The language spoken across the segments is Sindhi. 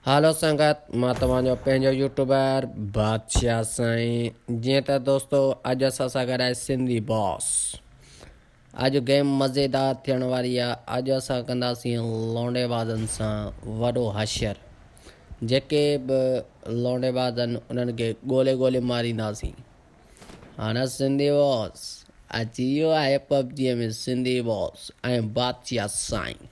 هالو سنگت مان توهان جو پنهنجو يوٽيوبر بادشاهه سائين جيئن ته دوستو اڄ اسان سان گڏ آهي سنڌي باس اڄ گيم مزيدار ٿيڻ واري آهي اڄ اسان ڪنداسين لونڊي بازن سان وڏو حشر جيڪي به لونڊي باز آهن انهن کي ڳولي ڳولي مارينداسين هاڻا سنڌي باس اچي ويو آهي پبجي ۾ سنڌي باس ۽ بادشاهه سائين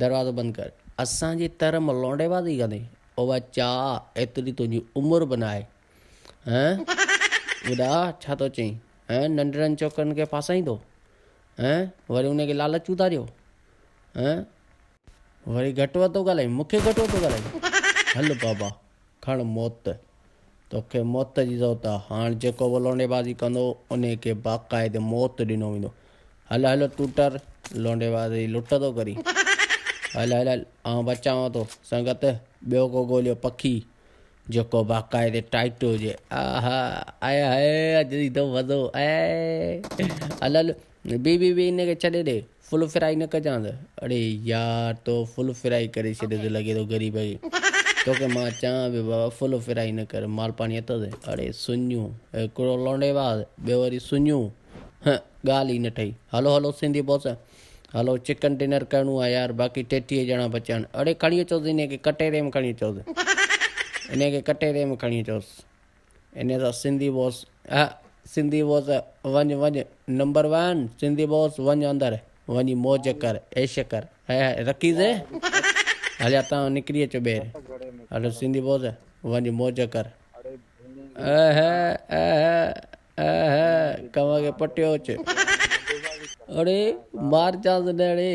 دروازو بند ڪر اسان جي تر مان لونڊي بازي ڪندي اوبا چا ايتري تنهنجي عمر به ناهي هين ٻڏا ڇا ٿو چئين هين ننڍڙن ڇوڪرن کي ڦاسائيندو هين وري ان کي لالچ اٿاريو هين وري گهٽ وڌ ٿو ڳالهائين مونکي گهٽ وڌ ٿو ڳالهائين هل بابا کڻ موت، توکي موت جي ضرورت آ، هاڻ جيڪو به لونڊي بازي ڪندو، انهي کي باقاعدي موت ڏنو ويندو. هل هل ٽوٽر، لونڊي باز جي لٽ ٿو ڪرين. هل هل هل، آئون بچانء ٿو. سنگت، ٻيو ڪو ڳوليو پکي، جيڪو باقاعدي ٽائٽ هجي. آء هاء، آء هاء، اڄ ايندو مزو، آء هاء. هل هل، بي بي بي ان کي ڇڏي ڏي فل فرائي نه ڪجانس اڙي يار تو فل فرائي ڪري ڇڏي ٿو لڳي ٿو غريب کي توکي مان چوان پيو بابا فل فرائي نه ڪر مال پاڻي اٿس اڙي سڃون هڪڙو لونڊي واز ٻيو وري سڃون هه ڳالهه ئي نه ٺهي hello hello Sindhi boss hello chicken dinner ڪرڻو آهي يار باقي ٽيٽيهه ڄڻا بچيا آهن اڙي کڻي اچوس ان کي ڪٽهري ۾ کڻي اچوس ان کي ڪٽهري ۾ کڻي اچوس انهيء سان سنڌي بوس اهه سنڌي بوس وڃ وڃ نمبر وان سنڌي بوس وڃ اندر وڃي موج ڪر عيش ڪر هيء رڪيزي هليا تان نڪري اچ ٻير هلو سنڌي بوس وڃ موج ڪر اهه اهه اهه ڪنوان کي پٽيو اچ اڙي مار چانس نڙي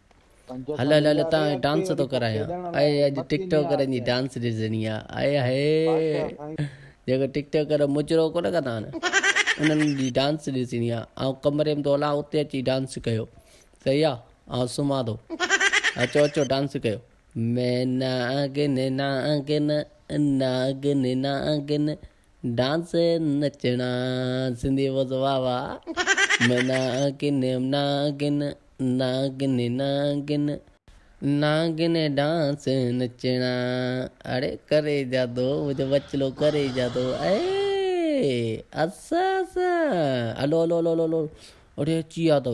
هلو هلو تان ۾ ڊانس ٿو ڪرايان اي اڄ ٽڪ ٽوڪرن جي ڊانس ڏسجڻي آ اي هي جيڪو ٽڪ ٽوڪر مجرو ڪونه ڪندا آهن انهن جي ڊانس ڏسجڻي آ آئون ڪمري ۾ ٿو هلان اتي اچي ڊانس ڪيو صحيح آ آئون سمهان ٿو اچو اچو ڊانس ڪيو مين ناگن ناگن ناگن ناگن ڊانس نچڻا سنڌي بوس واھ واھ مي ناگن ناگن ناگن ناگن ناگن ڊانس نچڻا اڙي ڪري جا دو مجھو بچلو ڪري جا دو اي اسا سا الو الو الو الو اڙي اچي ويا اٿو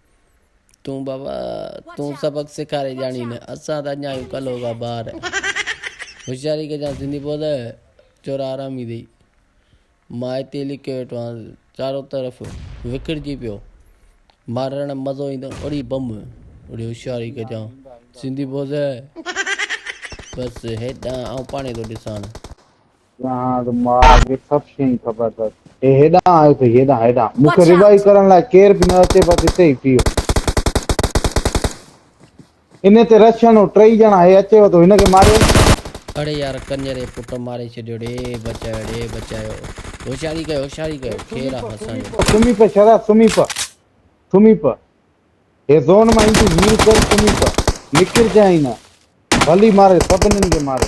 تون بابا تون سبق سيکاري ڄاڻي نه اسان ته اڃا آهيون ڪلهو کان ٻاهر هوشياري ڪجان سنڌي ٻول چورا حرامي دئي مان هتي لڪيو ويٺو آهيان چارو طرف وکڙجي پيو مارڻ مزو ايندو اڙي بم اڙي هوشياري ڪجان سنڌي ٻول بس هيڏان آئون پاڻي ٿو ڏسان جهان جو ماء کي سڀ شيء خبر اٿس. هي هيڏانهن آيو اٿئي، هيڏانهن، هيڏانهن. مون کي رهبائي ڪرڻ لاء ڪير به نه اچي، بس هتي ئي پيو. انهيء تي رڇنو، ٽئي ڄڻا، هي اچيو ٿو، هن کي ماريو. اڙي يار، ڪڃري پٽ ماري ڇڏيو، ڙي بچايو، ڙي بچايو. هوشياري ڪيو، هوشياري ڪيو، کير آ اسان جو. سمهي پئه شهزاد، سمهي پئه، سمهي پئه. هي زون مان ايندي مير ڪر سمي ته نڪر جانئين نه ڀلي ماري سڀنن کي ماري.